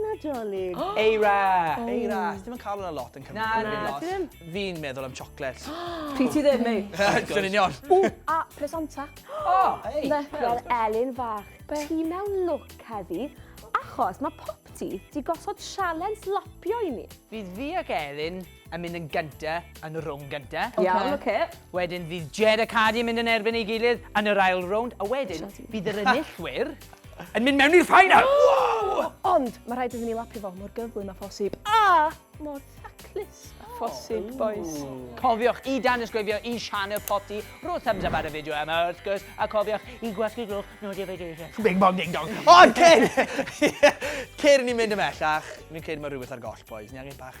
Nadolig. Eira! Eira. Ti ddim yn cael hwnna lot yn Cymru. Na, na, ti ddim. Fi'n meddwl am chocolate. Pryd ti ddim, ei. Yn union. O, a presanta. O! Ei! Wel, Elin fach, ti mewn look heddi, achos mae Popty di gosod sialens lapio i ni. Fydd fi ac Elin yn mynd yn gynta yn y rownd gynta. Okay. Iawn, oce. Okay. Wedyn fydd Jed a Cardi yn mynd yn erbyn ei gilydd yn yr ail rownd, a wedyn fydd yr enillwyr yn mynd mewn i'r ffainal. Wow! Ond mae rhaid iddyn ni lapu fo mor gyflym a phosib. A mor thaclus a phosib, oh. boys. Cofiwch i dan ysgrifio i Sianel Poti, rho thumbs up ar y fideo yma wrth gwrs, a cofiwch i gwasgu glwch notification. Bing bong ding dong. Ond cyn! Cyn ni'n mynd ymellach, mi'n credu mae rhywbeth ar goll, boys. Ni angen bach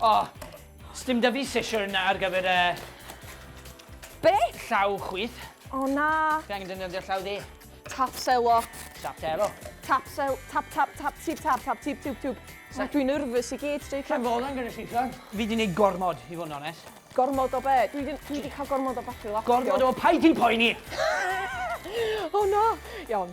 O, sdim da fi sesiwn ar gyfer y... Be? Llaw chwith. O na. Fi angen defnyddio llaw dde. Tap selo. Tap selo. Tap sel... Tap tap tap tip tap tap tip tip tip. So dwi'n nervous i gyd, Jacob. Sa'n fod yn gyda llithon. Fi di neud gormod, i fod yn onest. Gormod o be? Dwi di, dwi di cael gormod o batri laptop. Gormod o paid ti'n poeni! o na! Iawn.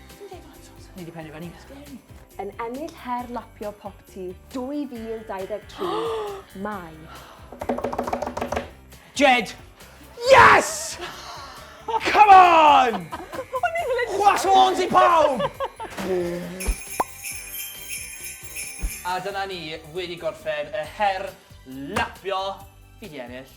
Ti'n deud hwnna eto? Ni 'di pennu fyny. Sgeri. Yn ennill her lapio popty 2023, mae... Jed! Yes! Come on! Chwas horns i pawb! A dyna ni wedi gorffen y her lapio fi di ennill.